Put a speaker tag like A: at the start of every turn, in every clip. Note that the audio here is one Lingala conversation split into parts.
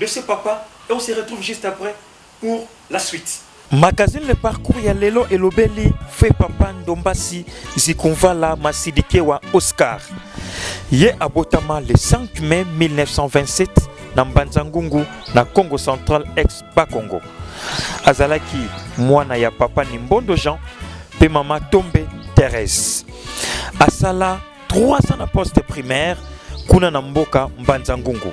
A: de ce papa et on se retrouve juste après pour la suite. Magazine Le
B: Parcours ya lelo elobeli Feu Papa Ndombasi Zikunvala Masidikewa Oscar. Ye abotama le 5 mai 1927 na Mbanza Ngungu na Congo Central ex Bakongo. Azalaki mwana ya papa Nimbondo Jean pe mama Tombe Therese. Asala 3 ans na poste primaire kuna na mboka Mbanza Ngungu.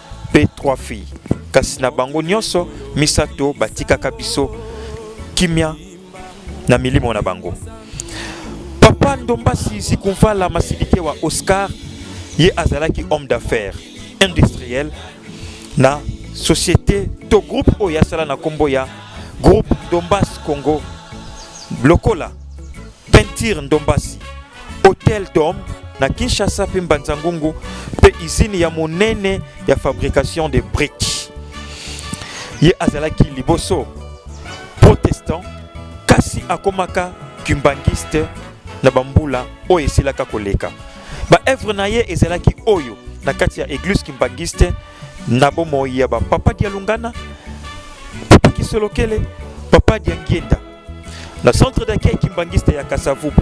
B: mpe trois filles kasi na bango nyonso misato batikaka biso kimia na milimo na bango papa ndombasi zikumfala masilike wa oscar ye azalaki homme d'affaires industriel na société to groupe oyo asala na nkombo ya groupe dombas congo lokola Peinture Ndombasi, Hotel Dom na Kinshasa mpe Mbanza Ngungu mpe izini ya monene ya fabrication de briques. Ye azalaki liboso protestant kasi akomaka kimbangiste na bambula oyo esilaka koleka. Baevre na ye ezalaki oyo na kati ya eglise kimbangiste na bomoi ya bapapa Dialungana, Papa Kisolokele, Papa Diangienda. na centre d'accueil kimbanguiste ya kasavubu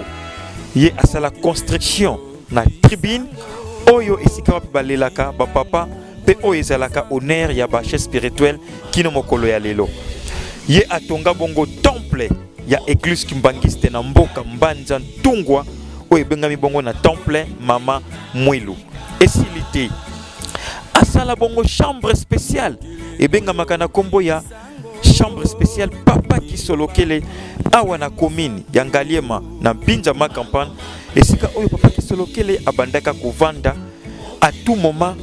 B: ye asala construction na tribune oyo esika wapi balelaka bapapa mpe oyo ezalaka honneur ya bache spirituel kino mokolo ya lelo ye atonga bongo temple ya eglise kimbanguiste na mboka mbanza ntungwa oyo ebengami bongo na temple mama mwilu esili te asala bongo chambre spéciale ebengamaka na nkombo ya chambre spéciale papa kisolokele awa na commune ya ngaliema na mpinza ma campagne esika oyo papa kisolokele abandaka kovanda à tout moment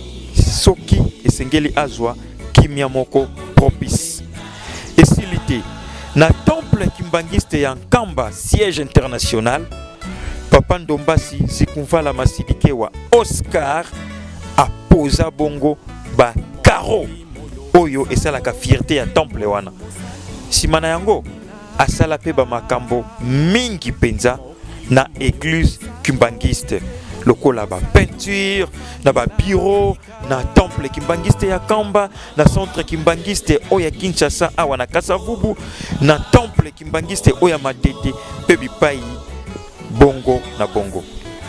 B: soki esengeli azwa kimia moko propice esili te na temple kimbanguiste ya nkamba siège international papa ndombasi sikunvala masidikewa oscar apoza bongo ba caro oyo esalaka fierte ya temple wana nsima na yango asala mpe bamakambo mingi mpenza na église kimbangiste lokola bapeinture na babiro na temple kimbangiste ya kamba na centre kimbangiste oyo ya kinshasa awa na kasavubu na temple kimbangiste oyo ya matete mpe bipai bongo na bongo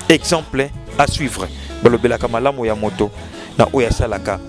B: exemple à suivre balobelaka malamu ya moto na oyo asalaka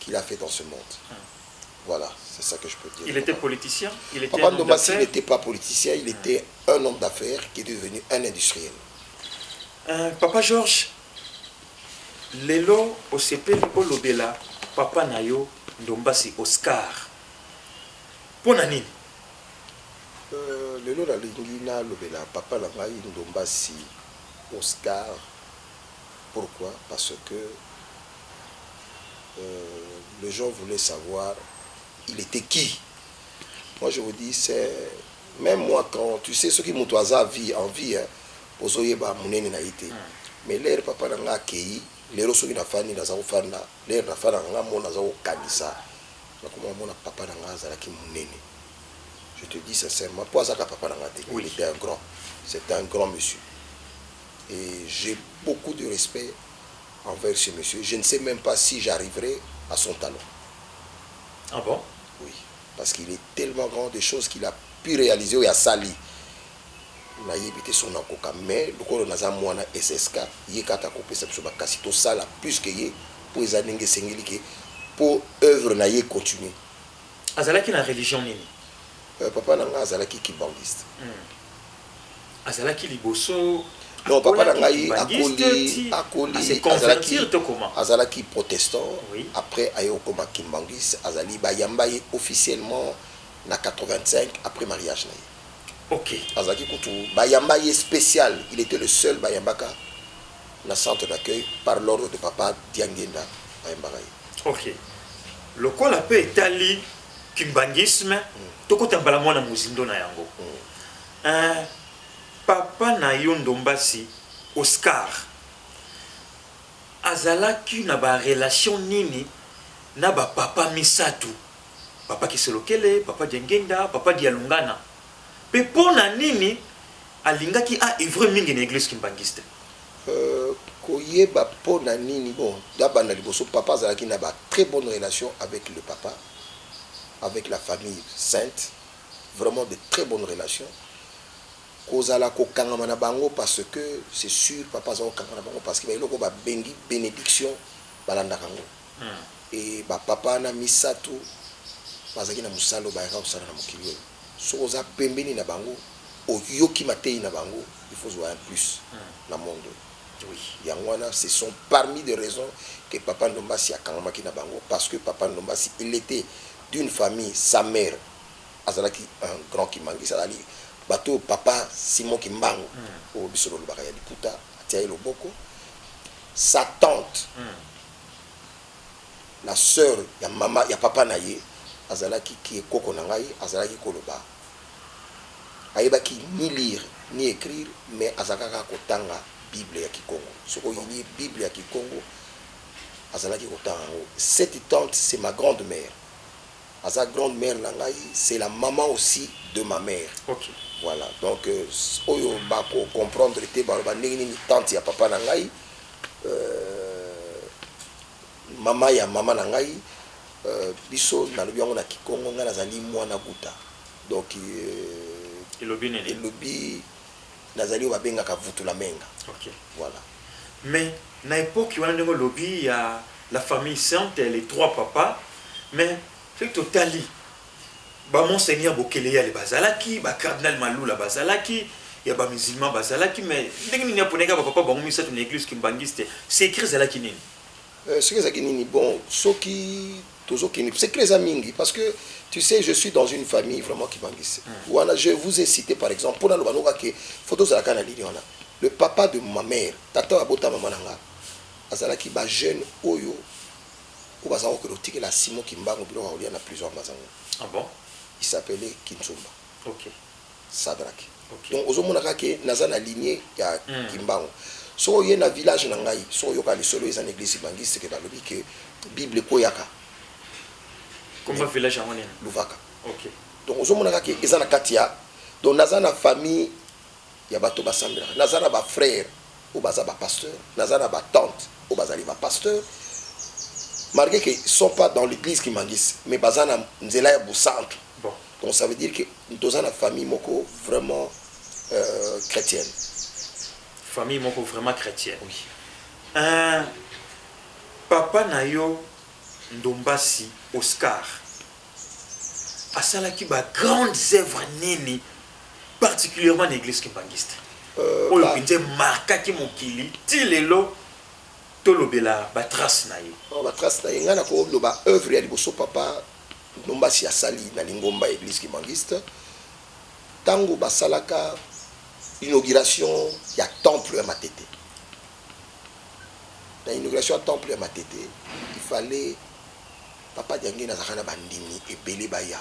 C: qu'il a fait dans ce monde voilà c'est ça que je peux dire il était politicien
A: il était papa Ndoma il
C: n'était pas politicien il était un homme d'affaires qui est devenu un industriel euh,
A: papa Georges lelo osepeli olobela papa na yo ndombasi oscar mpo na nini euh,
C: lelo nalingi nalobela papa na ngai ndombasi oscar pourquoi parce que les gens voulait savoir il etait qui moi je vous dis c'est même moi quand tu sais soki mutu aza vie en vie hein, ozoyeba munene na ye te mais lere papa na nga akei lero soki nafandi naza kofanda lere nafanda nga mona aza kokanisa nakoma mona papa na nga azalaki munene je te dis sincèrement mpo azaka papa na nga te oui. il était un grand c'est un grand monsieur Et j'ai beaucoup de respect envers ce monsieur, je ne sais meme pas si j'arriverai à son talent.
A: Ah bon? Oui, parce
C: qu'il est tellement grand des choses qu'il a pu realiser oyo asali nayebi te soki nakoka mais lokola naza mwana ssk ye kaka akopesa biso bakasi tosala plus que ye mpo eza ndenge esengeli ke mpo œuvre na ye continue azalaki na
A: religion nini Euh, papa na
C: ngai azalaki kibangiste Hmm.
A: azalaki liboso non papa na
C: ngai akoli akoli
A: azalaki azalaki protestant
C: oui. après aye
A: okoma
C: kimbanguiste azali bayamba ye officiellement na 85 après mariage na ye okay.
A: azalaki kutu
C: bayamba ye spécial il était le seul bayambaka na centre d'accueil par l'ordre de papa diangenda bayambaka ye okay.
A: lokola mpe etali kimbanguisme mm. tokota mbala mwana mozindo na yango mm. Eeh papa na yo ndombasi Oscar azalaki na ba relation nini na ba papa misatu papa kisolokele, papa diangenda, papa dialungana pe pona nini alingaki a oeuvrer mingi na eglise kimbanguiste? Eeh
C: koyeba pona nini bon nabanda liboso papa azalaki na ba très bonne relation avec le papa avec la famille sainte. vraiment de très bonne relation kozala kokangama na bango parce que c'est sur papa aza kokangama na bango parce que ba eloko ba bengi benediction balandaka yango et ba papa wana misatu bazalaki na mosala oyo bayaka kosala na mokili oyo soki oza pembeni na bango oyoki mateyi na bango il faut ozwa un plus na monde oyo yango
A: wana ce
C: sont parmi de raisons que papa ndombasi akangamaki na bango parce que papa ndombasi il etait d'une famille sa mère azalaki un grand kimbanguiste azali batu oyo papa Simon kimbangu oyo biso tolobaka ya liputa atia ye loboko sa tante la soeur ya maman ya papa na ye azalaki ki koko na ngai azalaki koloba ayebaki ni lire ni ecrire mais azalaka kaka kotanga bible ya kikongo soki oyinie bible ya kikongo azalaki kotanga yango cette tante c'est ma grande mère aza grande mère na ngai c'est la maman aussi de ma mère okay. voilà
A: donc
C: euh, oyo bako comprendre te baloba ndenge nini tante ya papa na ngai euh, mama ya mama na ngai euh, biso nalobi yango na kikongo ngai nazali mwana guta donc euh, elobi Nazali oyo babengaka Vutulamenga. Ok. Voilà. Mais
A: na epoque wana ndenge olobi ya la famille sainte et les trois papas, mais soki totali ba Monseigneur Bokeleyale bazalaki, ba Cardinal Malula bazalaki, ya ba musulmans bazalaki, mais ndenge nini aponaka ba papa bango misato na eglise kimbanguiste? Secret ezalaki nini? Secret ezalaki
C: nini? Bon, soki Tozo kende secret eza mingi parce que tu sais je suis dans une famille vraiment qui bangise wana je vous ai cite par exemple pona loba noka ke faut tozala ka na ligne wana le papa de ma mère tata oyo abota mama na nga azalaki ba jeune oyo oyo baza kokende kotikela Simon Kimbangu biloko ya kolia na prison ya Mazangu ah bon?
A: il s'appelait
C: Kinsumba okay.
A: Sadrack
C: donc ozo
A: mona kaka ke
C: naza na ligne ya kimbangu soki oye na village na ngai soki oyoka lisolo eza na eglise kibanguiste ke balobi ke bible ekweyaka
A: luvaka
C: donc
A: ozo mona kaka ke
C: eza na kati ya donc naza na famille ya bato ba sambelaka naza na ba frere oyo baza ba pasteur naza na ba tante oyo bazali ba pasteur malgre ke sont pas dans l'eglise kimbanguiste mais baza na nzela ya bosantu Donc ça veut
A: dire que
C: toza na famille moko vraiment euh, chrétienne.
A: Famille moko vraiment chrétienne. Oui.
C: Euh,
A: papa na yo Ndombasi Oscar asalaki ba grandes œuvres nini particulièrement na église kimbanguiste euh, oyo euh, mpenza emarkaki mokili ti lelo tolobela batrace na ye oh, batrace na ye ngai
C: nakoloba œuvre ya liboso papa Ndombasi asali na lingomba ya Eglise kimbanguiste tango basalaka inauguration ya temple ya Matete. Na inauguration ya temple ya Matete, il fallait Papa Diangienda azalaka na bandimi ebele baya.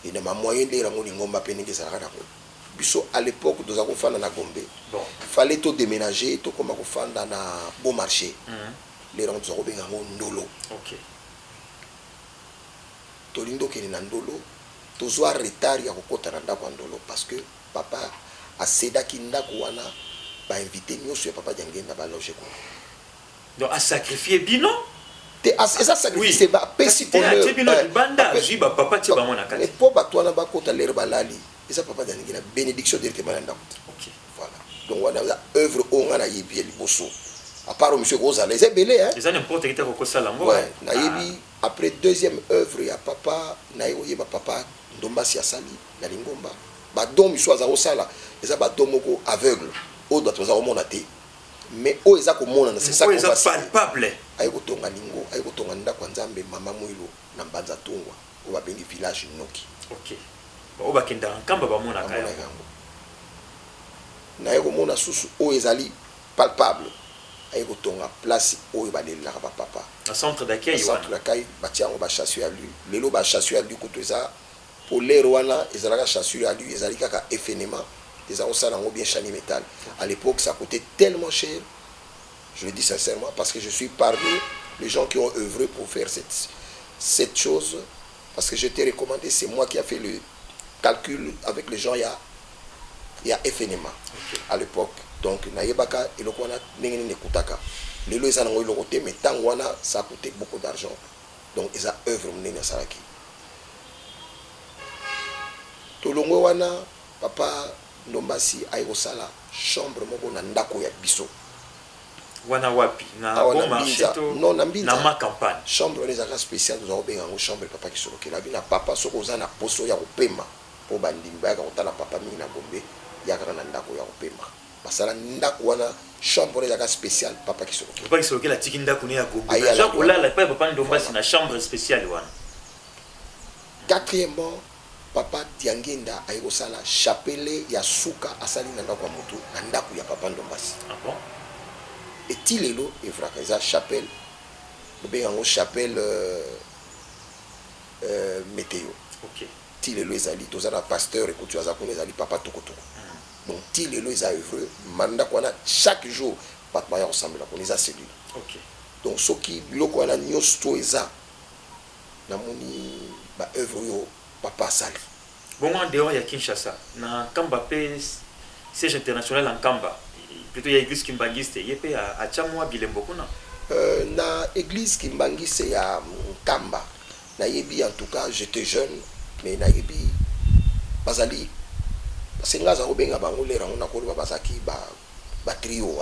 C: Et na ba moyens ndenge nango lingomba pe ndenge ezalaka na ko biso à l'epoque tozalaki kofanda na Gombe, il fallait
A: to demenager
C: tokoma kofanda na Bon marche. Lelo yango tozali kobenga yango Ndolo. tolingi tokende na ndolo tozua retard ya kokota na ndaku ya ndolo parce que papa a cedaki ndaku wana ba invite nioso ya papa diangienda ba loge kuna. Donc a
A: sacrifier bino? Te
C: eza sacrifice te ba pesi honneur eh
A: po batu wana bakota
C: l'heure balali eza papa diangienda benediction directement na ndaku te. Voilà
A: donc wana
C: eza oeuvre oyo nga nayebi ya liboso à part oyo misusu eko zala eza ebele hein. Eza n'importe qui te ako kosala
A: ngo. Ouais nayebi
C: après deuxième oeuvre ya papa naye koyeba papa ndombasi asali na lingomba ba dons misusu aza kosala eza ba dons moko aveugle oyo batu baza komona te mais oyo eza komonana c'est ça Oyo eza palpable. aye
A: kotonga lingo
C: aye kotonga ndako ya nzambe mama muilu na mbanza tungwa oyo babengi village noki Okay. Baoyo
A: bakendaka nkamba bamonaka
C: yango. Naye komona susu oyo ezali palpable aye kotonga place oyo balelelaka ba papa na centre d'accueil
A: wana. Ba centre d'accueil batie
C: yango ba chassure ya lule lelo ba chassure ya lule kutu eza po l'heure wana ezalaka chassure ya lule ezali kaka effenement eza kosala yango bien chanie metal à l'epoque ça coute tellement cher je le dis sincèrement parce que je suis parmi les gens qui ont oeuvre pour faire cette cette chose Parce que je t'ai recommande c'est moi qui a fait le calcul avec les gens ya ya FNMA à l'epoque donc na yebaka eloko wana ndenge nini ekutaka lelo eza nango eloko te mais tango wana ça coûtait beaucoup d'argent donc eza œuvre munene asalaki tolongwe wana papa ndombasi aye kosala chambre moko na ndako ya biso wana
A: wapi na awa bon na marche mbinza to non na mbinza na ma campagne? chambre wana ezalaka special
C: tozalaka kobenga yango chambre papa kisoloki elobi na papa soki oza na poso ya kopema po bandimi bayaka kotala papa mingi na gombe ya kaka na ndako ya kopema basala ndako wana chambre wana ezalaka special papa kisoloki Papa Kisolokela atiki ndako
A: ne ya Gombe Aye mais aza alandi kolala wana. epai ya Papa Ndombasi Voilà. na chambre speciale
C: wana.
A: quatrièmement Papa
C: Diangienda aye kosala chapele ya suka asali na ndaku ya mutu na ndaku ya papa Ndombasi
A: et
C: ti lelo evraka eza chapele bobenga yango chapele meteo
A: ti lelo ezali
C: toza na pasteur ekoti aza kuna ezali papa tokotoko donc ti lelo eza evre ma ndaku wana chaque jour batu baya kosambela kuna eza celule donc
A: soki
C: biloko wana niosto eza Na moni ba oeuvres oyo papa asali. Bongo en dehors
A: ya Kinshasa na Nkamba pe siège international ya Nkamba plutot ya eglise kimbanguiste ye pe atia mua bilembo kuna? Na
C: eglise kimbanguiste ya Nkamba na yebi en tout cas j'etais jeune mais na yebi bazali parce que nga aza kobenga bango l'heure yango nako loba bazalaki ba trio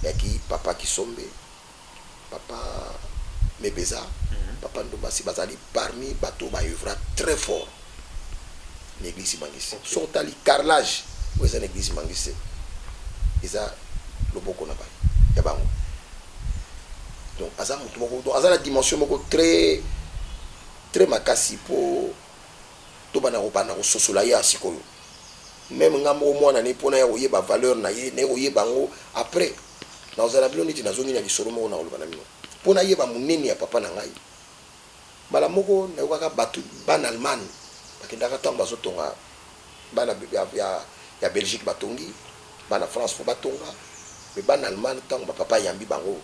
C: ya ki
A: papa
C: Kisombe. Papa Mebeza, Papa Ndumbasi bazali parmi bato oyo ba oeuvra très fort na eglise Kimangiste. Soki otali carrelage oyo eza na eglise Kimangiste, eza loboko na ba ya bango. Donc aza mutu moko, donc aza na dimension moko très très makasi po tobanda kobanda kososola ye awa sik'oyo. Meme nga moko mwana na ye po naya koyeba valeur na ye, naye koyeba yango après. Nakozala na bino neti nazongi na lisolo moko, nakoloba na bino mpo nayeba monene ya Papa na ngai. Mbala moko nayokaka bato, bana Allemagne bakendaka ntango bazotonga, bana ya Belgique batongi, bana France fo batonga, mais bana Allemagne ntango ba papa ayambi bango,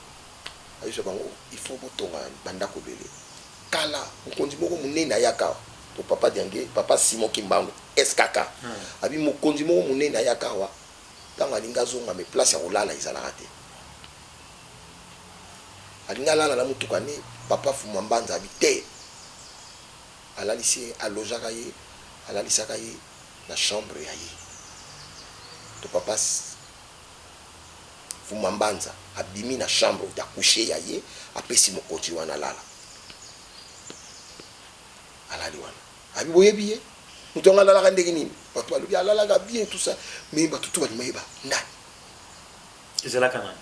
C: ayebisa bango il faut botonga ba ndako ebele. Kala, mokonzi moko monene ayaka awa, to Papa Diangier, Papa Simon Kimbangu, SKK, alobi mokonzi moko monene ayaka awa, Tango alingi azonga mais place ya kolala ezalaka te. Alingi alala na mutuka nde papa fumua mbanza abi te alalisi ye a logeaka ye alalisaka ye na chambre ya ye to papa fumua mbanza abimi na chambre ya couche ya ye apesi mokonzi wana alala alali wana. Abi boyebi ye mutu yango alalaka ndenge nini batu balobi alalaka bien tout ça mais batu tout balingi bayeba nani
A: ezalaka nani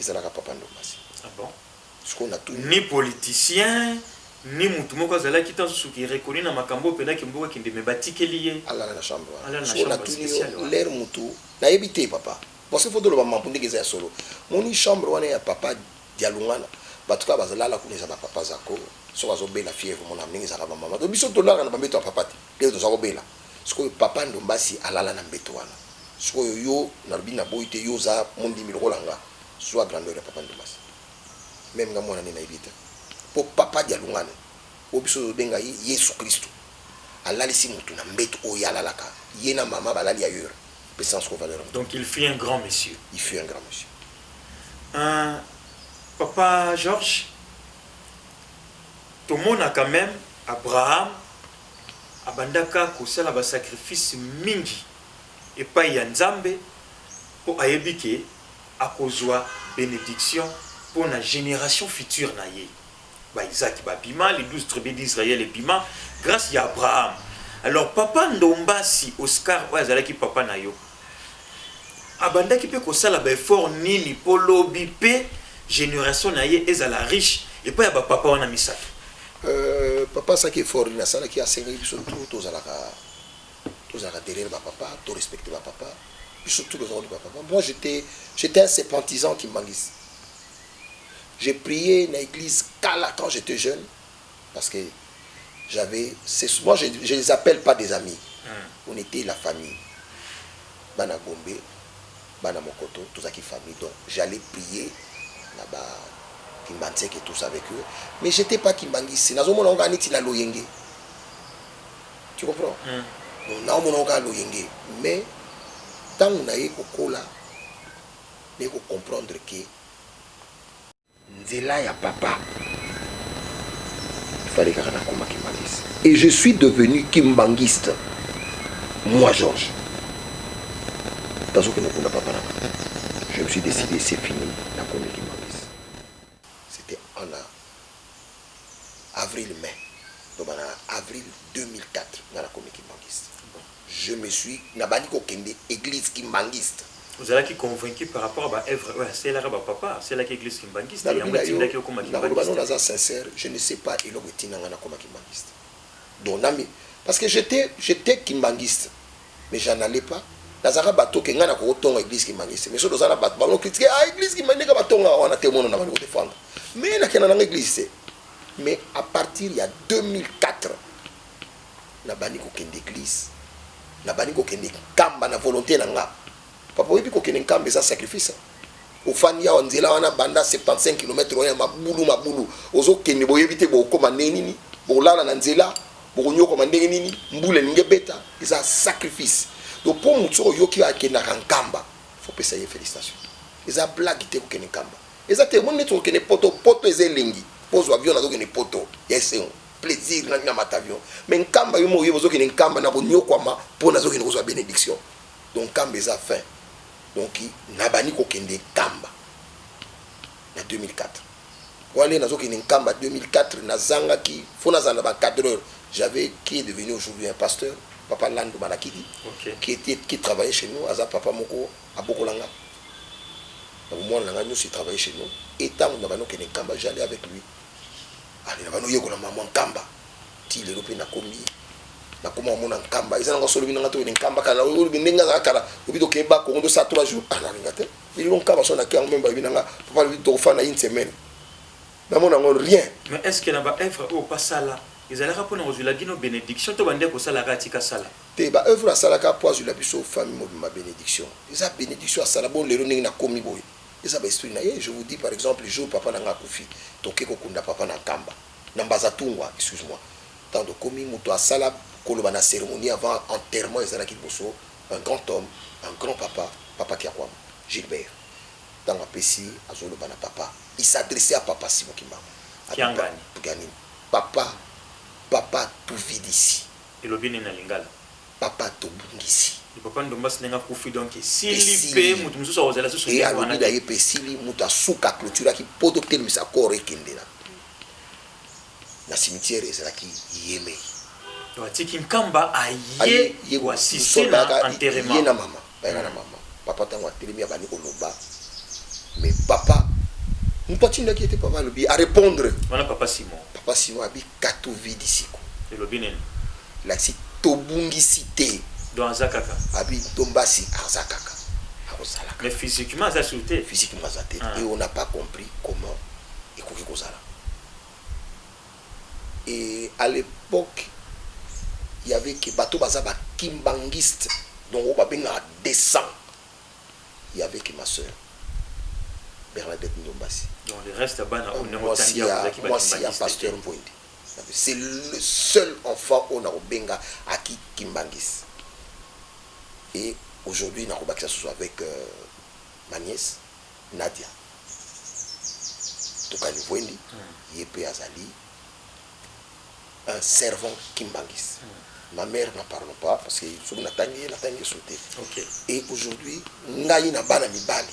C: ezalaka papa ndombasi ah bon
A: sikoyo na tout
C: ni politicien
A: ni mutu moko azalaki ntango susu ki reconnu na makambo oyo mpenza kimboka akende me batikeli ye alala na chambre wana
C: sikoyo na tuni
A: yo
C: lere mutu nayebi te papa parce que fo toloba mambo ndenge eza ya solo moni chambre wana ya papa dialungana bato kaka bazalala kuna eza bapapa zako soki azo bela fièvre omona ndenge ezalaka ba maman donc biso tolalaka na ba mbeto ya papa te ndenge toza ko bela sikoyo papa ndombasi alala na mbeto wana sikoyo yo nalobi na boyi te yo oza mondimi lokola nga zua grandeur ya papa ndombasi meme nga muana ne na yebi te po papa dialungane oyo biso tozo benga ye yesu christu alalisi mutu na mbetu oyo ye alalaka ye na maman balali ailleurs pesa nga sikoyo valeur ya mutu donc il fut un grand
A: monsieur il fut un grand monsieur.
C: Ahh
A: papa Georges. tomonaka meme Abraham abandaka kosala ba sacrifice mingi epayi ya Nzambe po ayebi ke akozua benediction pona generation future na ye. Ba Isaac ba bima, les 12 tribus d'Israël ebima grace ya Abraham. Alors papa Ndombasi Oscar oyo azalaki papa na yo, Abandaki pe kosala ba efforts nini po lobi pe generation na ye ezala riche epai ya ba papa wana misato? Euh
C: papa asaki effort nini asalaki asengaki biso tout tozalaka tozalaka derrière ba papa to respecter ba papa biso tout toza koluka papa moi j'etais j'etais un septentisant kimbanguiste j'ai prier na eglise kala quand j'etais jeune parce que j'avais c'est moi je je les appelle pas des amis on etait la famille bana gombe bana mokoto tozalaki famille donc j'allais prier na ba kimbanseke et tout ça avec eux mais j'etais pas kimbanguiste nazomona ngo kaka neti na loyenge tu comprends donc naomona ngo kaka loyenge mais ntango naye kokola naye kocomprendre que nzela ya papa fale kaka nakoma kimbanguiste et je suis devenu kimbanguiste moi georges tazokende okunda papa na je me suis décidé c'est fini nakomi kimbanguiste c'était ana Avril mai loba na avril 2004 nga na komi kimbanguiste je me suis na bandi ko kende eglise kimbanguiste. Ozalaki
A: convaincu par rapport ba oeuvres oyo aselaka ba papa aselaki eglise kimbanguiste yango etindaki yo okoma
C: kimbanguiste? Nalobi na yo naza sincère je ne sais pas eloko etinda nga na koma kimbanguiste donc na mi parce que j'etais j'etais kimbanguiste mais j'en allais pas nazalaka bateau ke ngai nakoki tonga eglise kimbanguiste te mais soki toza na bato bango critique ah eglise kimbanguiste ndenge batongaka wana te mono na bandeko defendre mais nakenda nanga eglise te mais à partir ya 2004 nabandi kokende eglise nabandi kokende kamba na volonté na nga Papa oyebi kokende nkamba eza sacrifice ofandi awa nzela wana banda 75 kilomètre oya mabulu mabulu ozokende boyebi te bokokoma ndenge nini bokolala na nzela bokonyokoma ndenge nini mbula elingi ebeta eza sacrifice donc mpo motu soki oyoki oyo akendaka nkamba fopesa ye félicitation eza blague te kokende nkamba eza te omoni neti okende poto poto eza elengi mpo ozwa avion nazokende poto ya esengo plaisir na ntina mata avion me nkamba yo mo oyebi ozokende nkamba na konyokwama mpo nazokende kozwa bénédiction Donc kamba eza fin donc nabandi kokende kamba na 2004 wana nde nazo kende kamba 2004 nazangaki faut nazala na ba cadreur j'avais qui est devenu aujourd'hui un pasteur papa Landu Malakidi okay. qui était qui travaillait chez nous aza papa moko abokola nga na bomwana na nga nyonso travaillait chez nous et tango nabandi kokende kamba j'allais avec lui allez nabandi oyekola maman kamba Ti lelo pe nakomi nakoma omona nkamba eza nanga solobi nanga toyene nkamba kala olobi ndenge azala kala obi tokeba kongo tosala trois jours ah nalinga te lelo nkamba so naki yango meme bayebi nanga papa lobi tokofanda une semaine namona yango rien mais est ce que na ba
A: œuvre oyo pasala ezalaka mpona kozwila bino benediction to bande kosalaka atika sala te ba œuvre asalaka
C: mpo azwila biso famille mobima benediction eza benediction asala bo lelo ndenge nakomi boye eza ba esprit na ye je vous dis par exemple jour papa nanga akufi toke kokunda papa na nkamba Na Mbazatungwa, excuse moi, tango tokomi, moto asala koloba na ceremonie avant enterrement ezalaki liboso un grand homme, un grand papa, Papa Kiakuama Gilbert. Tango apesi, azo loba na papa, il s'adressait à papa Simon Kimbangu, Kiangani. Kiangani, papa, papa tu vide ici. Elobi nini na
A: lingala? papa
C: tobungisi. Yo papa ndombas ndenge
A: akufi donc esili pe Esili mutu mususu akozala lisusu pe ndenge wana alobi te. naye pe esili
C: mutu ya suka a cloturaki po totelemisa corps ekende na na cimetière ezalaki yemei. Donc atiki
A: nkamba aye Aye ye ko assister na soldaka ye enterrement. na mama. Bayaka na
C: mama. Papa tango atelemi abandi koloba mais papa mutu atindaki ye te papa alobi a repondre. Wana papa Simon.
A: Papa Simon abi
C: katu vidi siko. Elobi nini?
A: Elakisi
C: tobungisi te. Donc aza kaka.
A: Abi ntombasi
C: aza kaka. Akozala kaka. Mais
A: physiquement aza sur te. Physiquement aza te et
C: on n'a pas compris comment ekoki kozala. et à l'epoque il y'avait que bato oyo baza ba kimbanguiste donc oyo babengaka decent il y'avait que ma soeur Bernadette Ndombasi
A: mwasi ya
C: pasteur Mvuende c'est le seul enfant oyo nakobenga à ki kimbanguiste et aujourd'hui nakobakisa susu avec ma nièce Nadia Tukanivuendi ye pe azali un servant kimbanguiste. Ma mère n'en parlons pas parce que soki natangi ye natangi ye solo te. Et
A: aujourd'hui
C: ngai na bana mibali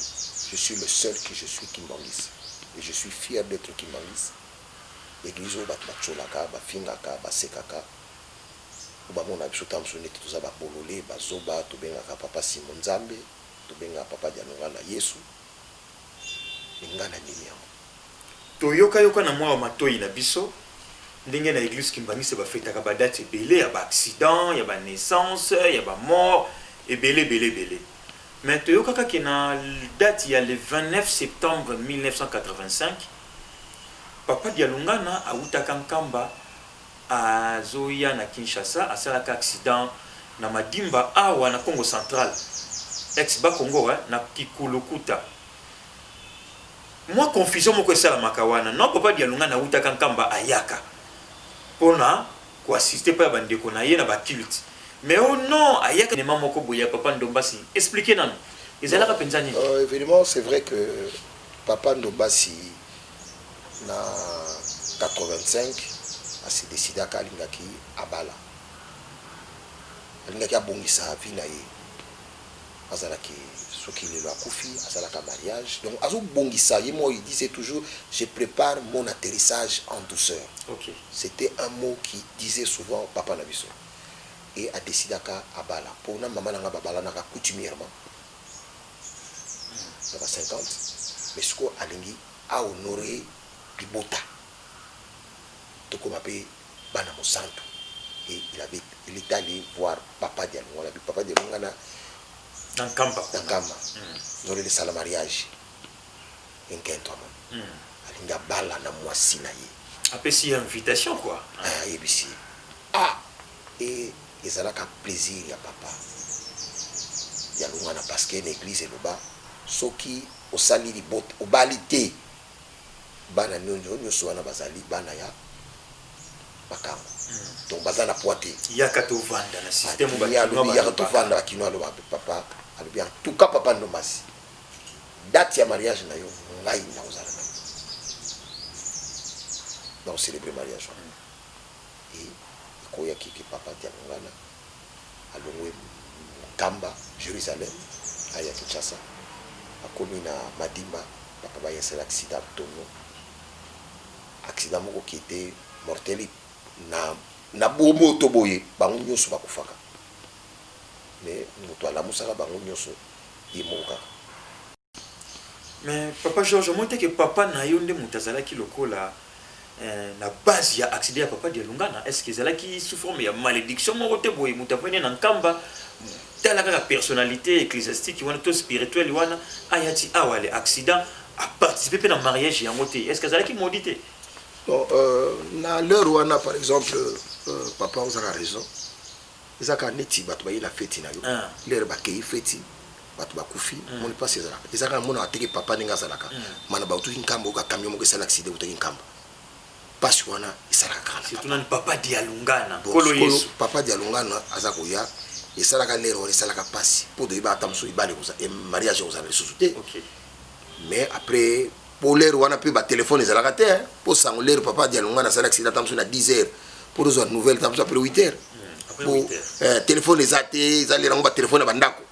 C: je suis le seul que je suis kimbanguiste et je suis fier d'etre kimbanguiste. Eglise oyo batu batsholaka, bafingaka, basekaka po bamonaka biso tango mosusu neti toza ba bolole, bazoba, tobengaka Papa Simon Nzambe. Tobenga papa Dianongana Yesu lingala nini yango? Toyoka
A: yoka na mwa matoyi na biso ndenge na eglise kimbanguiste ba fetaka ba dates ebele ya ba accidents, ya ba naissances, ya ba morts ebele ebele ebele mais toyokaka ke na date ya le 29 septembre 1985 papa Dialungana awutaka Nkamba Azoya na Kinshasa asalaka accident na madimba awa na Kongo central ex bas Kongo hein na kikulukuta mwa confusion moko esalamaka wana non papa Dialungana awutaka Nkamba ayaka pona ko assister epai ya ba ndeko na ye na ba cultes mais oh non ayaka evenement moko boye ya papa Ndombasi expliquer nanu ezalaka penza nini? Evenement c'est vrai
C: que papa Ndombasi na 85 a se decidaka alingaki abala alingaki abongisa vie na ye azalaki soki lelo akufi asalaka mariage donc azo bongisa ye moi il disait toujours je prepare mon atterrissage en douceur okay. c'était
A: un mot
C: qui disait souvent papa na biso et a decidaka abala pona mama na nga babalanaka coutumièrement na ba 50 mais sikoyo alingi a honore libota tokoma pe bana mosantu et il avait il est alle voir papa dialonga on a dit papa dialonga na
A: nkamba na nkamba
C: nous allons sala mariage et nkento amoni alingi abala na mwasi na ye apesi ye invitation
A: quoi ayebisi ye
C: ah Et ezalaka plaisir ya papa ya lungana parce que na eglise eloba soki osali libot obali te bana nionso nionso wana bazali bana ya makangu donc baza na poids te Yaka to vanda
A: na système oyo ba kinois ba lobaka. Yaka to
C: vanda ba kinois ba lobaka papa alobi en tout cas papa ndombasi date ya mariage na yo ngai nako zala na yo nako celebrer mariage wana. et ekoya ke ke papa Diangongana alongwe Nkamba, Jerusalem, aya Kinshasa, akomi na Madimba, papa ba installer accident ya tonneau, accident moko qui etait mortel na na bomoto boye, bango nionso bakufaka mais mutu alamusaka bango nionso ye moko kaka.
A: Mais papa Georges omoni te que papa nayo nde mutu azalaki lokola eh, na base ya accident ya papa Dialungana est-ce que ezalaki sous forme ya malediction moko te boye mutu avandi na nkamba tala kaka personnalité ecclesiastique wana to spirituel wana aya ti awa le accident a participer pe na mariage yango te est-ce que azalaki maudit te Bon,
C: euh, na l'heure wana par exemple euh, papa ozaka raison Eza kaka neti batu baye na feti na yo lere ba keyi feti batu ba kufi omoni pasi ezalaka eza kaka na monaka te ke papa ndenge azalaka mana ba utuki nkamba oyoka camion moko esali accident ewutaki nkamba pasi wana esalaka kaka na papa nanu papa
A: dialungana nkolo yesu bon sikoyo papa
C: dialungana aza koya esalaka lere wana esalaka pasi po toyebaka ata mususu libala ekozala mariage ekozala lisusu te mais après po l'heure wana pe ba telephone ezalaka te hein po sango l'heure papa Dialungana asali accident tango na 10 heures po tozwa nouvelle tango mosusu après 8 heures hmm, po euh, telephone eza te ezali nango ba telephone ya ba ndako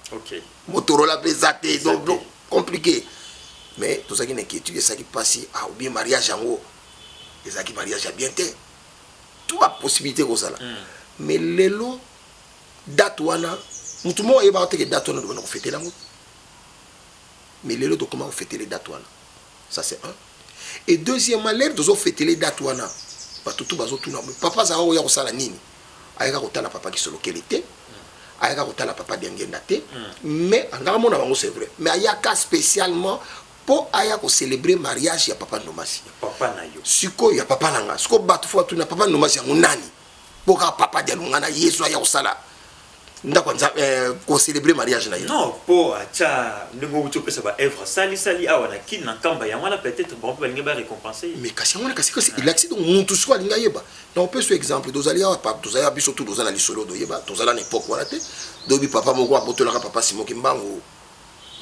C: motorola pe eza te donc compliqué mais tozalaki na inquiétude esalaki mpasi ah ou bien mariage yango ezalaki mariage ya bien te tout ba possibilité kozala hmm. mais lelo date wana motu moko ayebaka teke date wana dobanda kofetela yango mais lelo tokoma ko fetele date wana ça c'est un et deuxièmement lelo tozo fetele date wana batu tout bazo tuna mais papa azalaka koya kosala nini ayaka kotala papa kisolokele te ayaka kotala papa diangenda te mais azalaka mona bango c'est vrai mais ayaka spécialement po aya ko célébrer mariage ya papa ndomasi papa na yo
A: sikoyo ya papa na nga
C: sikoyo batu fo batuna papa ndomasi yango nani po kaka papa dialungana yesu aya kosala ndako nza eh, kocelebre mariage na ye non po acha
A: ndenge outi opesa ba œuvre sali sali awa na kin na nkamba yango wana peut-être bango mpe balingi ba récompense ye mais kasi yango wana kasi kasi
C: elakisi donc mutu siko alingi ayeba na opesa exemple tozali awa papa tozali awa biso tu toza na lisolo doyeba tozala na époque wana te doyebi papa moko abotolaka papa simoki mbangu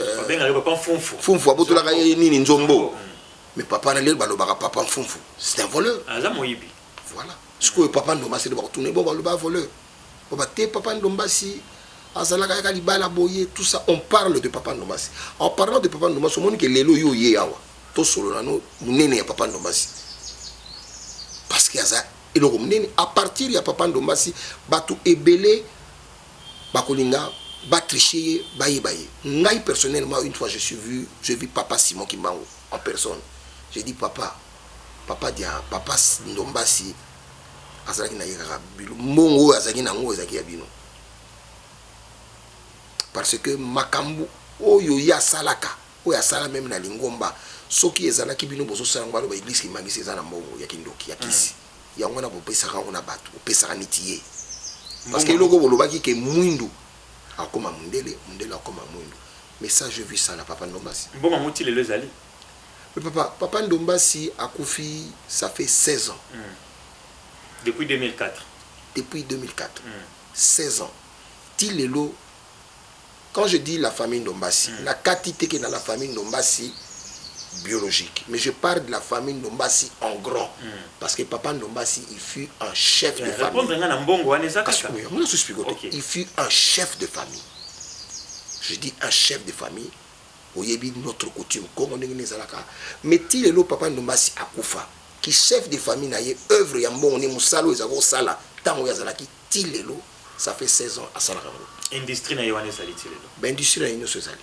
C: euh, babengaka
A: papa mfumfu fumfu
C: abotolaka ye nini nzombo mais papa na lelo balobaka papa mfumfu c'est un voleur aza moyibi
A: Voilà.
C: Sikoyo papa Ndombasi nde bakotuna ye, bo baloba a voleur. Baloba te papa Ndombasi azalaka yaka libala boye tout ça on parle de papa Ndombasi. En parlant de papa Ndombasi omoni ke lelo yo oye awa tosolola no munene ya papa Ndombasi. Parce que aza eloko munene à partir ya papa Ndombasi bato ebele bakolinga ba tricher ye bayeba ye. Ngai personnellement une fois je suis vu, j'ai vu papa Simon Kimbangu en personne. J'ai dit papa Papa dia papa ndombasi azalaki naye kaka mbongo oyo azalaki na yango ezalaki ya bino par ce que makambu oyo ye asalaka oyo asala meme na lingomba soki ezalaki bino bozo sala yango baloba eglise kimangisi eza na mbongo ya kindoki ya kisi mm. yango wana bopesaka yango na bato bopesaka niti ye parce que eloko bolobaki ke mwindu akoma mundele mundele akoma mwindu message vu ça na papa ndombasi mbongo yango ti lelo ezali
A: Mais papa,
C: papa ndombasi akufi ça fait 16 ans.
A: Depuis 2004. Depuis
C: 2004. 16 ans. Ti lelo quand je dis la famille ndombasi na kati te ke na la famille ndombasi biologique mais je parle de la famille ndombasi en grand parce que papa ndombasi il fut un chef de famille. Repondre nga na mbongo wana eza kaka. Kasi oyo yango na suspiko te. Il fut un chef de famille. Je dis un chef de famille Oyebi notre coutume Congo ndenge nini ezalaka mais ti lelo papa Ndombasi akufa ki chef de famille na ye oeuvre ya mbongo nini musala oyo ezalaki kosala tango ye azalaki ti lelo ça fait 16 ans asalaka yango. Industrie na ye
A: wana ezali ti lelo? Ba industries na ye nioso
C: ezali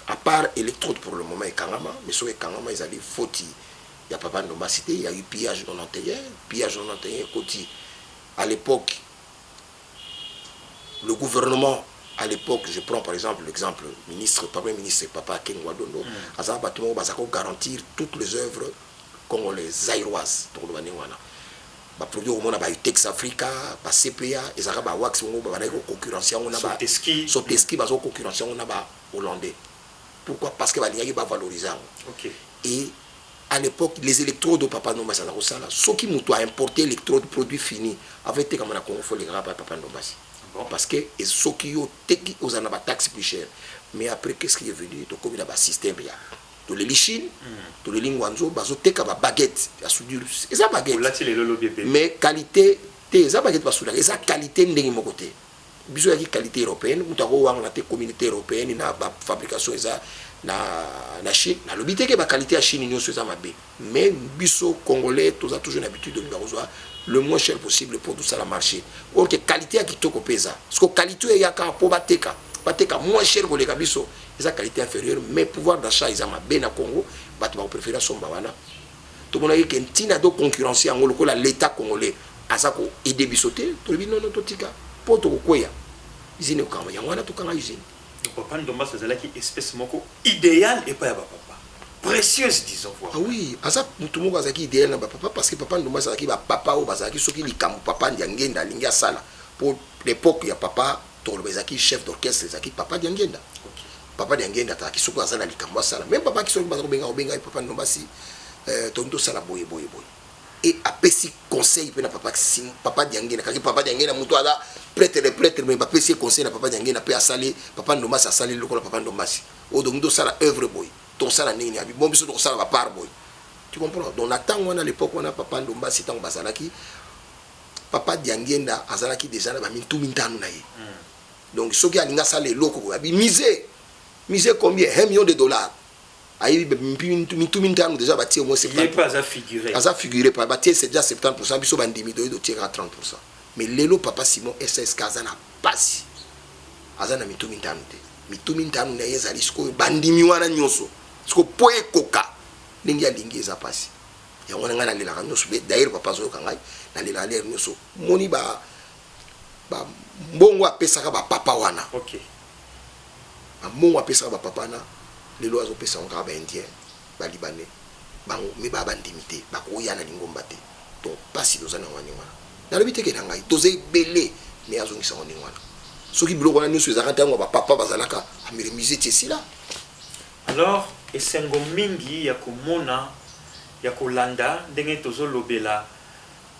C: à part electrode pour le moment ekangama mais soki ekangama ezali foti ya papa Ndombasi te il ya eu pillage 91 pillage 91 ekoti à l'epoque le gouvernement à l'epoque je prends par exemple l'exemple ministre premier ministre papa Akegne wa Dondo aza na bato moko baza ko garantir toutes les œuvres congolaises zaïroises tokoloba ndenge wana ba produits okomona ba Utex Africa ba CPA ezalaka ba wax bongo babandaki ko concurrence yango na ba Soteski bazo concurrence yango na ba hollandais pourquoi parce que balingaki ba valoriser yango et A l'epoque les electrodes oyo papa ndombasi aza kosala soki mutu a importe electrode produit fini avant etekama na congo fo elekaka epai papa ndombasi parce que soki yo oteki ozala na ba taxe plus cher mais après qu'est ce qui est venu tokomi na ba système ya toleli chine toleli nguanzhou bazo teka ba baguette ya soudure eza baguette mais qualite te eza baguette basudaka eza qualite ndenge moko te. Bison yaki qualite europeenne mutu ako wangana te communaute europeenne na ba fabrication eza na na chine na lobi te ke ba qualite ya chine nioso eza mabe mais biso congolais toza toujours na habitude olinga kozua le moins cher possible pour tout ça la marche or que qualite ya kitoko pe eza parce que qualite oyo eyaka po ba teka ba teka moins cher ko leka biso eza qualite inferieur mais pouvoir d'achat eza mabe na congo batu bako prefere asomba wana tomonaki ke ntina to concurrencer yango lokola l'etat congolais aza ko aider biso te tolobi non non totika po tokokweya usine ekokangama yango wana tokanga usine. Donc papa Ndombasi
A: azalaki espece moko ideal epai ya ba papa precieuse disons voir. Ah oui aza
C: mutu moko azalaki ideal na ba papa parce que papa Ndombasi azalaki ba papa oyo bazalaki soki likambo papa Ndiangenda alingi asala po l'epoque ya papa Tokoloba ezalaki chef d'orchestre ezalaki papa Diangienda. Papa Diangienda azalaki soki aza na likambo asala meme papa Kisoki baza kobenga kobenga ye papa Ndombasi euh toni tosala boye boye boye et apesi conseil mpe na papa Kisim papa Diangienda kaki papa Diangienda moto aza prêtre de prêtre mais bapesi ye conseil na papa Diangienda mpe asali papa Ndombasi asali lokola papa Ndombasi oyo donc tosala œuvre boye tokosala ndenge nini abi bon biso tokosala ba part boye tu comprends donc na ntango wana à l'époque wana papa Ndombasi ntango bazalaki Papa Diangienda azalaki dejà na ba mitu mitano na ye. Donc soki alingi asala eloko boye abi musee, musee combien? Un million de dollars. Ayebi ba mitu mitano dejà ba tie au moins 70%. Ye pe aza figure. Aza
A: figure pa ba
C: tie dejà 70%, biso ba ndimi toye to tie kaka 30%. Mais lelo Papa Simon SSK aza na pasi. Aza na mitu mitano te. Mitu mitano na ye ezali sikoyo ba ndimi wana nionso. Sikoyo po ekoka ndenge alingi eza pasi. Yango wana ngai na lelaka nioso be d'ailleurs papa azo yoka ngai na lelaka l'heure nioso omoni ba ba mbongo apesaka ba papa wana ok ba mbongo apesaka ba papa wana lelo azo pesa yango kaka ba indien ba libanais bango mais ba bandimi te bakoya na lingomba te donc pasi toza na yango ndenge wana na lobi te ke na ngai toza ebele mais azo ngisa yango ndenge wana soki biloko wana nioso ezalaka tango ba papa bazalaka amere musee ti esila Alors
A: esengo mingi ya komona ya kolanda ndenge tozo lobela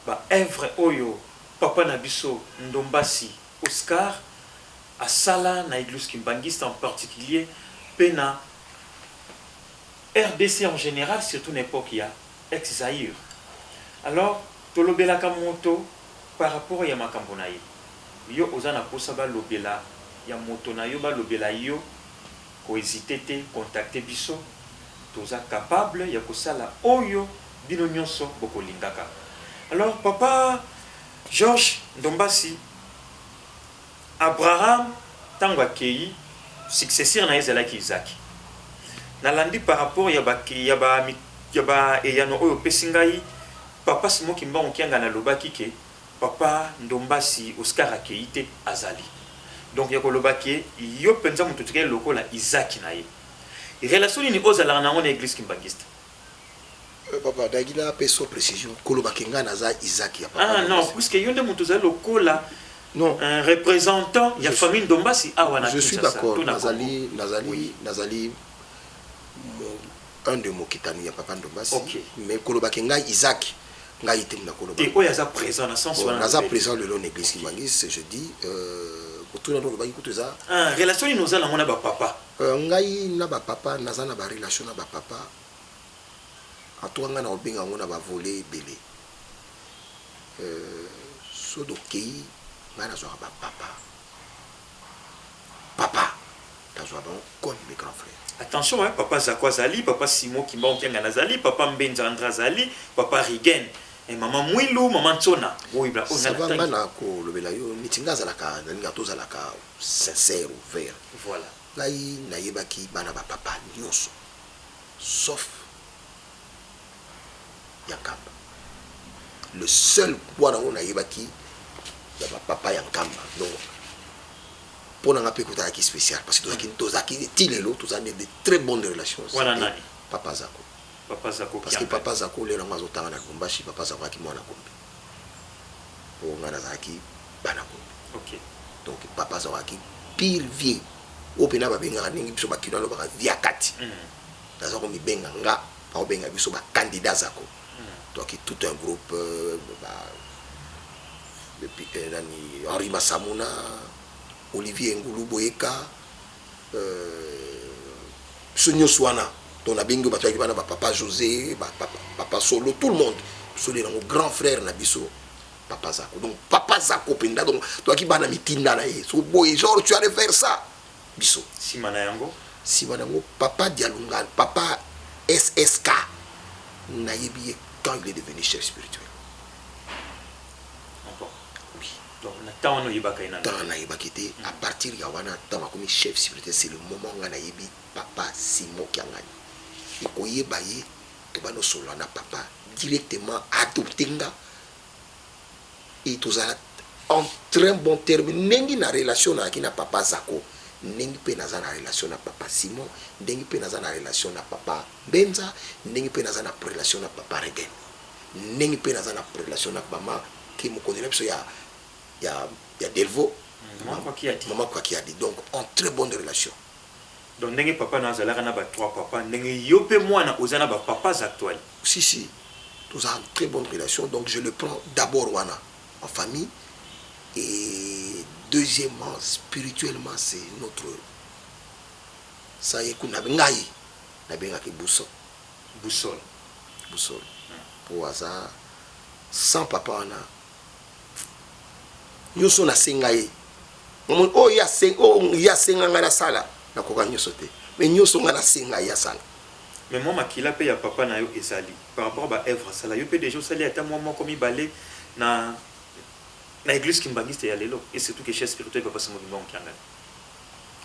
A: ba oeuvre oyo papa na biso Ndombasi Oscar asala na egluse kimbanguiste en particulier pe na rdc en general surtout na epoque ya ex Zaïre. Alors tolobelaka moto par rapport ya makambo na ye. Yo oza na posa balobela ya moto na yo balobela yo Ko hesiter te contacter biso toza capable ya kosala oyo bino nionso boko lingaka alors papa Georges Ndombasi Abraham tango akeyi successeur naye ezalaki Isaac nalandi par rapport ya ba ya ba eyano oyo opesi ngai papa Simon Kimbangu Kiangani alobaki ke Papa ndombasi Oscar akeyi te azali donc ya koloba ke yo penza mutu otikali lokola Isaac na ye relation nini oza laka na yango na eglise kimbanguiste? Euh
C: papa nagi na peso precision koloba ke ngai naza Isaac ya papa ndombasi? Ah non puisque yo nde
A: mutu ozali lokola non un representant ya famille ndombasi awa na kinshasa to na congo? Je suis d'accord nazali
C: nazali oui nazali Un de mokitani ya papa ndombasi Ok. mais koloba ke
A: ngai
C: Isaac ngai te mutu nakoloba Te oyo aza present na
A: sens Bon, wana naza lobeli. present lelo na
C: eglise kimbanguiste je dis euh, motuna nde olobaki kutu eza Ah, relation nini oza
A: nango na ba papa? Euh, ngai na ba
C: papa naza na ba relation na ba papa en tout cas ngai nakobenga yango na ba volet ebele euh, soki tokei ngai nazwaka ba papa Papa tazua bango comme mes grands frères. Attention hein papa zako
A: azali papa Simon kimbangu kiangani azali papa mbenza Andre azali papa rigen eh maman muilu maman nsona oyo bla oyo nga Sava nga natangi nako
C: lobela yo neti nga azalaka nalinga tozalaka sincère ouvert voilà. ngai
A: nayebaki
C: bana ba papa nionso sauf ya nkamba le seul wana ngo na yebaki ya ba papa ya nkamba donc pona nga pe kota ki special parce que tozaki mm. tozaki ti lelo tozali de très bonnes relations wana nani papa zako papa zako parce
A: que papa zako lelo
C: ngo azotanga na Lubumbashi papa zako aki mwana kombe po nga nazalaki bana kombe okay donc
A: papa
C: azalaki pire vie oyo mpena babengaka ndenge biso bakino alobaka viakati mm. Naza ko mibenga nga bako benga biso ba candidats ako toi qui tout un groupe ba depuis nani Henri Masamuna, Olivier Ngulu Boyeka euh biso nionso wana donc na bengi yo batu wana ba papa Jose ba papa Solo tout le monde biso nde nango grand frère na biso papa Zako donc papa Zako penza donc toi qui bana mitinda na ye soki oboyi genre tu as de faire ça biso. Sima na yango.
A: Sima na yango
C: papa Dialungalo, papa SSK na yebi ye quand il est devenu chef spirituel. Ah bon? Oui. Donc na temps wana oyebaka ye nanu te? Temps na yebaki ye te, à partir ya wana tango akomi chef spirituel c'est le moment nga na yebi papa Simon Kiangani. Et ko yeba ye tobandi ko solola na papa directement a adopter nga. et tozala en très bon terme ndenge na relation nayaki na papa zako ndenge pe naza na relation na papa Simon ndenge pe naza na relation na papa mbenza ndenge pe naza na prelation na papa regen ndenge pe naza na prelation na mama ki mokonzi na biso ya ya ya delvaux maman kwa kiadi donc en très bonne relation Donc ndenge
A: papa nayo azalaka na ba trois papa ndenge yo pe muana oza na ba papas actuelle. Si si
C: toza en très bonne relation donc je le prends d'abord wana en famille et deuxièmement spirituellement c'est notre ça ye kuna ngai na bengaka ye boussole Boussole. boussole po aza sans papa wana Nioso na senga ye omoni oyo ye asenga nga na sala na koka nioso te mais nioso nga na senga ye asala. Mais mwa makila
A: pe ya papa na yo ezali par rapport ba oeuvres asala. Yo pe dejà osali ata mwa moko mibale na na eglise kimbanguiste ya lelo et surtout que chef spirituel papa Simon kimbangu kiangani.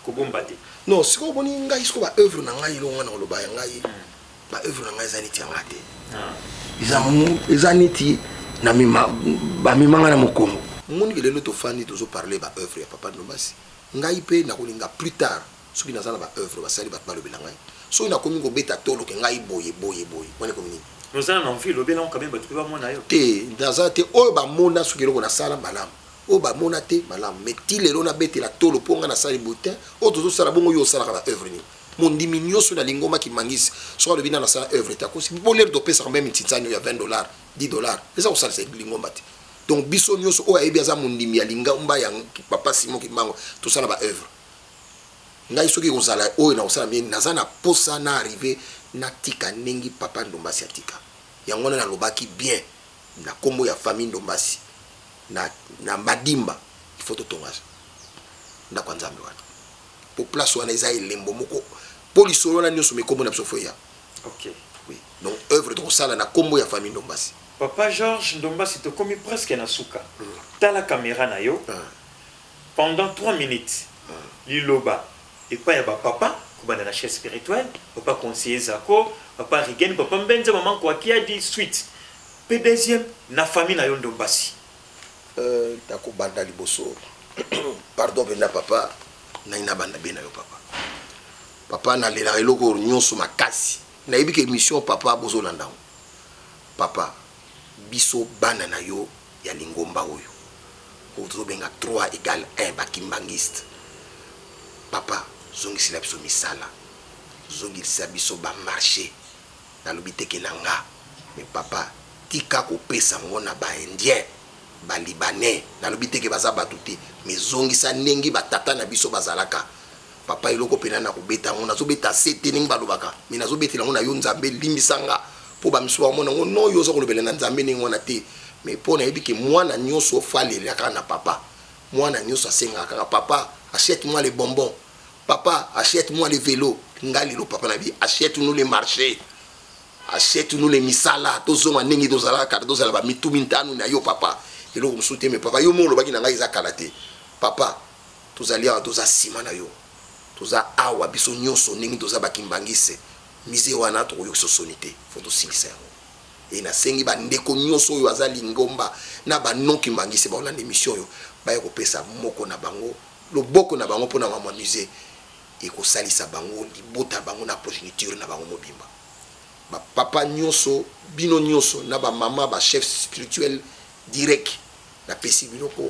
A: kobomba te non sikoyo omoni ngai sikoyo ba oeuvre na ngai elongo na koloba ya ngai hmm. ba oeuvre na ngai eza neti yanga te ah. eza neti bamema ngai na mokongo omoni ke lelo tofandi tozoparle ba oeuvre ya papa nobasi ngai mpe nakolinga plus tard soki naza na ba oeuvre basali bato balobela ngai soki nakomi kobeta toloke ngai boye boye boye wana ekomi nini ozala na envie lobela yango kameme bato mpe bamona yo te naza te oyo bamona soki eloko nasala malamu oyo ba mona te malamu mais ti lelo na betela tolo po nga na sali boye te oyo tozo sala bongo yo osalaka ba oeuvre nini mondimi nioso na lingoma ki mangisi soki alobi na na sala oeuvre te akosi po lelo to pesaka meme nsinzani oyo ya 20 dollars 10 dollars eza ko salisa lingomba te donc biso nioso oyo ayebi aza mondimi ya lingomba ya papa Simon Kimbangu to sala ba oeuvre ngai soki ekozala oyo na kosala mie naza na posa na arrive na tika ndenge papa ndombasi atika yango wana nalobaki bien na kombo ya famille ndombasi na na madimba il faut totonga ndako ya nzambe wana po place wana eza elembo moko po lisolo wana nionso mikombo na biso fo eya okay. oui. donc œuvre tokosala na kombo ya famille ndombasi papa george ndombasi tokomi presque na suka mm. tala kamera na yo mm. pendant 3 minutes mm. liloba epai ya bapapa kobanda na chef spirituel papa conseiller zako papa rigen papa mbenza mama nkoakiadi suite Pe deuxième na famille na yo ndombasi. Euh nako banda liboso pardon penza papa nai na banda be na yo papa papa na lelaka eloko nionso makasi nayebi ke emission papa bozo landa ngo papa biso bana na yo ya lingomba oyo oyo tozo benga 3 egal 1 ba kimbangiste papa zongisela biso misala zongilisa biso ba marche Nalobi te ke na nga mais papa tika kopesa ngo na ba indiens, ba libanais nalobi te ke baza batu te mais zongisa ndenge ba tata na biso bazalaka papa eloko pena nako beta yango nazo beta se te ndenge balobaka mais nazo betela yango na yo nzambe limbisa nga po ba misusu bako mona yango non yo oza kolobela na nzambe ndenge wana te mais po nayebi ke mwana nioso fally alela kaka na papa mwana nioso asengaka kaka papa achete moi le bonbon Papa achète moi le velo nga lelo papa na bi achète nous le marché achète nous le misala tozonga ndenge tozalaka kala tozala ba mitu mintano na yo papa eloko mosusu te me papa yo mo olobaki na ngai eza kala te papa tozali awa toza nsima na yo toza awa biso nyonso ndenge toza bakimbangise mise wana tokoyokisa soni te fo tosilisa yango e nasengi bandeko nyonso oyo aza lingomba na banon kimbangise baolanda emission oyo baya kopesa moko na bango Loboko
C: na bango mpo na makambo ya musee ekosalisa bango, libota na bango na progeniture na bango mobimba. Ba papa nyoso, bino nyoso na ba mama ba chefs spirituels direc na pesi bino ko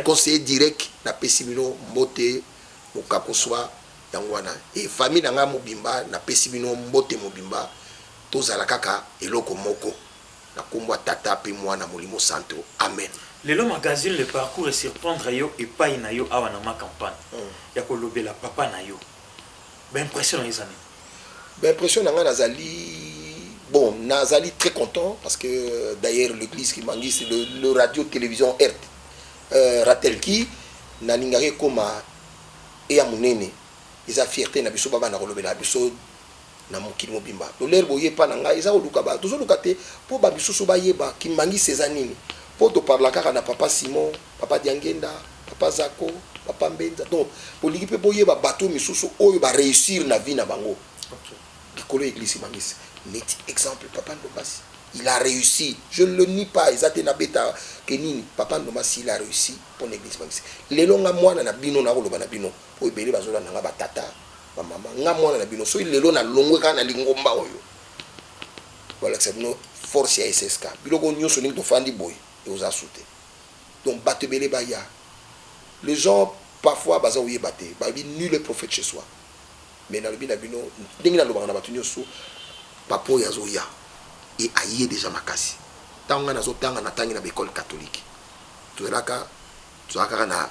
C: conseiller direc na pesi bino mbote mokako swa yango wana et famille na ngai mobimba na pesi bino mbote mobimba tozala kaka eloko moko Na kombo ya Tata pe Muana Molimo Santo, Amen. Lelo magazine
A: le parcours e surprendre yo epayi na yo awa na ma campagne ya ko lobela papa na yo ba impression na yo eza nini? Ba impression
C: na nga na zali bon na zali très content parce que d'ailleurs l'eglise qui mangiste le, le radio television erte euh, ratelki na lingaka ekoma eya munene eza fierté na biso ba banda ko lobela biso na mokili mobimba doler boye epa na ngai eza koluka ba tozoluka te po ba misusu bayeba kimbanguiste eza nini po to parla kaka na papa simon papa diangenda papa zako papa mbenza donc bolingi pe boyeba bato misusu oyo ba reussir na vie na bango likolo ya eglise kimbanguiste neti exemple papa ndombasi il a reussi je ne le nie pas eza te na beta ke nini papa ndombasi il a reussi pona eglise kimbanguiste lelo nga mwana na bino nakoloba na bino po ebele bazolanda nga ba tata Ba mama nga mwana na bino soki lelo na longwe kaka na lingomba oyo balakisa bino force ya SSK biloko nyoso ndenge tofandi boye ekozala sute donc bato ebele baya les gens parfois baza koyeba te balobi nul est prophète chez soi mais nalobi na bino ndenge nalobaka na bato nyoso papa oyo azoya e aye deja makasi ntango ngai nazotanga natangi na baekole katolike tozalaka tozalaka kaka na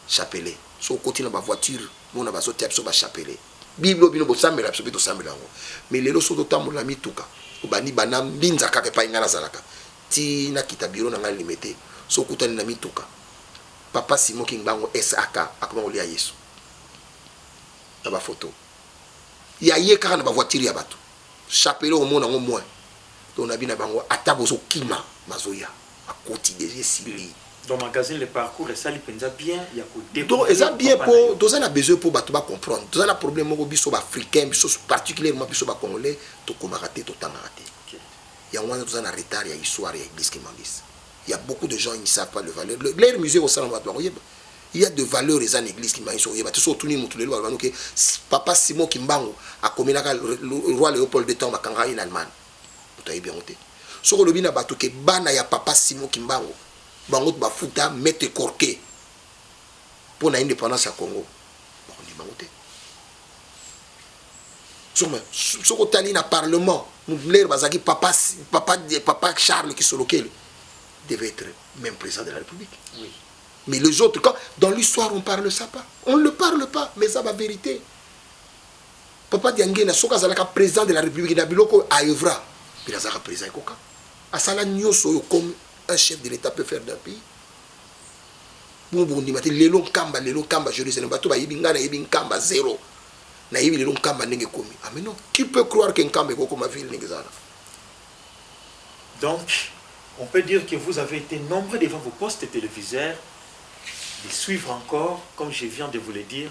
C: Chapelet soki okoti na ba voiture mona bazo tia biso ba chapelet bible oyo bino bosambela biso pe tosambela yango mais lelo soki ozotambola na mituka obandi banda mbinza kaka epai ngai nazalaka ti nakita bureau na ngai limete soki okutani na mituka papa Simon kingbangu SAK akoma kolia yesu na ba photo ya ye kaka na ba voiture ya batu chapelet okomona yango moins donc nabi na bango ata bozokima bazoya. akoti dejà esili. Donc magazine le
A: parcours esali penza bien ya ko decouvrir papa na yo. Donc eza bien po
C: toza na besoin po batu ba comprendre toza na problème moko biso ba africains biso particulièrement biso ba congolais tokomaka te totangaka te yango wana toza na retard ya histoire ya eglise kimbanguiste il ya beaucoup de gens ils ne savent pas le valeur leur musée ekosala batu bakoyeba il ya de valeur eza na eglise kimbanguiste okoyeba te so otuni mutu lelo balobanoke papa simon kimbangu akomelaka roi leopold de temps bakanga ye na allemagne Moto ayebi yango te. Soki olobi na bato ke bana ya papa Simon Kimbangu bango ba futa Maitre Corke mpo na independance ya Congo, bakondima yango te. Soki otali na parlement lere bazalaki papa, papa, papa Charles Kisolokele devait être même président de la République. Oui. Mais les autres, quand, dans l'histoire, on ne parle ça pas. On ne le parle pas, mais ça va vérité. Papa Diangenda soki azalaka president de la republique na biloko oyo a oeuvra pele azalaka president ekoka asala nyoso oyo comme un chef de l'etat peut faire d'un pays bongo bokondima te lelo nkamba lelo nkamba jerusalem bato bayebi ngai nayebi nkamba zero nayebi lelo nkamba ndenge ekomi ah mais non qui peut croire que nkamba ekokoma ville ndenge ezala
A: donc on peut dire que vous avez été nombreux devant vos postes téléviseurs de suivre encore comme je viens de vous le dire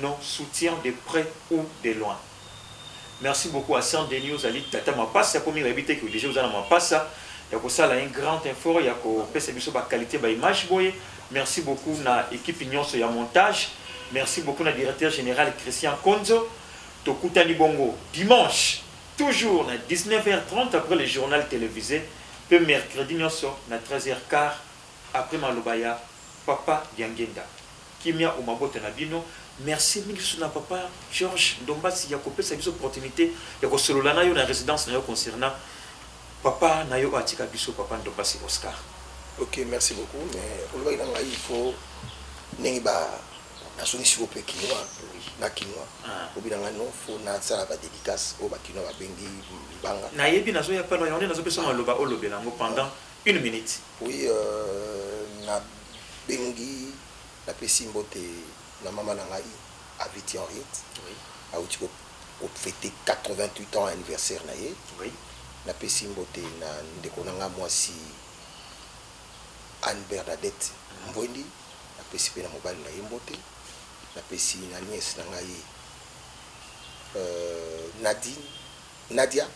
A: nos soutiens de pret ou de loin merci beaucoup à sans Denis ozali tata mapasa ya komi nayebi te que dejà oza na mapasa ya kosala un grand effort ya kopesa biso ba qualite ba image boye merci beaucoup na equipe nionso ya montage merci beaucoup na directeur general Christian Konzo tokutani bongo dimanche toujours na 19 heures 30 après le journal televise pe mercredi nionso na 13 heures quart après maloba ya papa Diangenda Kimia o mabota na bino. Merci mingi lisusu na papa Georges Ndombasi ya kopesa biso opportunite ya kosolola na yo na residence na yo concernant papa na yo oyo atika biso, papa Ndombasi Oscar. Ok, merci
C: beaucoup. Mais olobaki na ngai il faut ndenge ba nazongisi yo mpe kinois na kinois obi na ngai non fo nasala ba dédicace oyo ba kinois babengi libanga. Nayebi nazoya pano
A: yango nde nazopesa maloba olobela yango pendant Une minute. Oui
C: na
A: bengi
C: na pesi mbote na maman na ngai Aviti Henriette awuti ko feter 88 ans anniversaire na ye na
A: pesi
C: mbote na ndeko na ngai muasi Anne Bernadette Mbwendi na pesi pe na mobali na ye mbote na pesi na nièce na ngai Nadine Nadia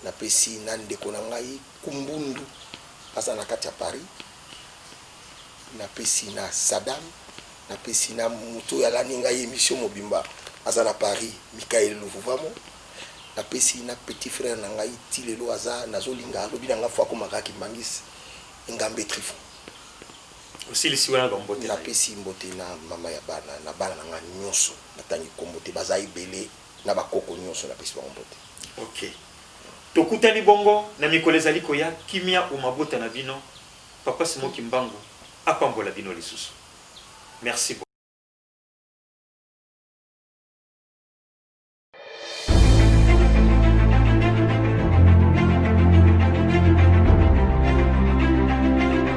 C: Na pesi na ndeko na ngai kumbundu aza na kati ya paris na pesi na sadam na pesi na mutu oyo alandi ngai emission mobimba aza na paris mikael luvuvamo na pesi na petit frere na ngai ti lelo aza nazo linga alobi na nga fo akoma kaka kimbangist engambe trifo
A: osilisi wana ba mbote na ye na pesi mbote na
C: mama ya bana na bana na nga nioso na tangi kombo te baza ebele na bakoko nyonso napesi bango mbote. Ok.
A: Tokutani bongo na mikolo ezali koya, kimia o mabota na bino, Papa Simon Kimbangu apambola bino lisusu. Merci beaucoup.